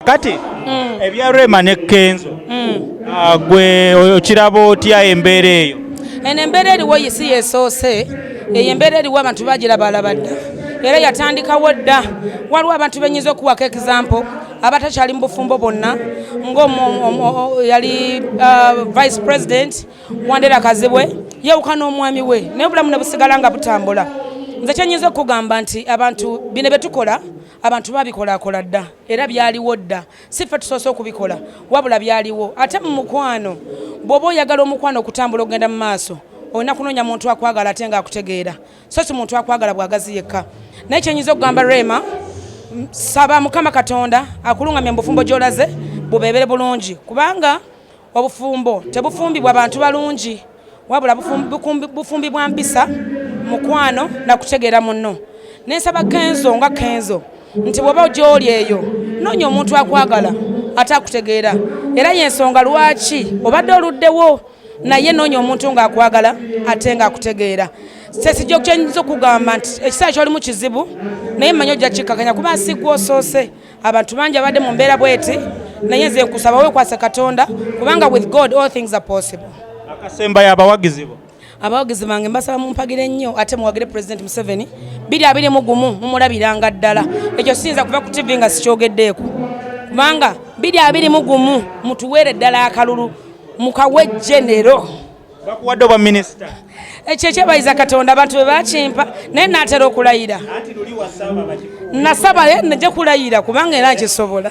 kati mm. ebya rema ne kenzo mm. ah, gwe okiraba otya embeera eyo eno embeera eriwo yisi yesoose eyo embeera eriwo abantu bagirabaalaba dda era yatandikawo dda waliwo abantu benyinza okuwako example abatakyali mu bufumbo bonna ngayali uh, vice president wandera kazibwe yewuka n'omwami we naye obulamu ne busigala nga butambula nze kyenyinza okugamba nti abantu bino byetukola abantu babikolakola dda era byaliwo dda si ffe tusoose okubikola wabula byaliwo ate mu mukwano bw'oba oyagala omukwano okutambula okugenda mu maaso olina kunoonya muntu akwagala ate nga akutegeera so si muntu akwagala bwagazi yekka naye kyenyinza okugamba rema saba mukama katonda akulungamya mubufumbo gyolaze bubebere bulungi kubanga obufumbo tebufumbibwa bantu balungi wabula bufumbi bwa mpisa mukwano na kutegeera munno nensaba kenzo nga kenzo nti bwoba gyoli eyo noonya omuntu akwagala ate akutegeera era yensonga lwaki obadde oluddewo naye noonya omuntu ng'akwagala ate ng'akutegeera sesijja okukyanyiza okugamba nti ekiseera kyolimu kizibu naye mmanyi ojja kikkakanya kuba nsigwa osoose abantu bangi abadde mu mbeera bweti naye nze nkusaba wekwase katonda kubanga with god all things are possible akasembayo abawagizi bo abawagizi bange mbasaba mumpagire nnyo ate muwagire president museveni biri abiri mu gumu mumulabiranga ddala ekyo siyinza kuva ku tv nga sikyogeddeeko kubanga biri abiri mu gumu mutuweere ddala akalulu mukawejjenero bakuwadde obwa minisita ekyo ekyebayiza katonda abantu be bakimpa naye natera okulayira nasaba naye naja kulayira kubanga era nkisobola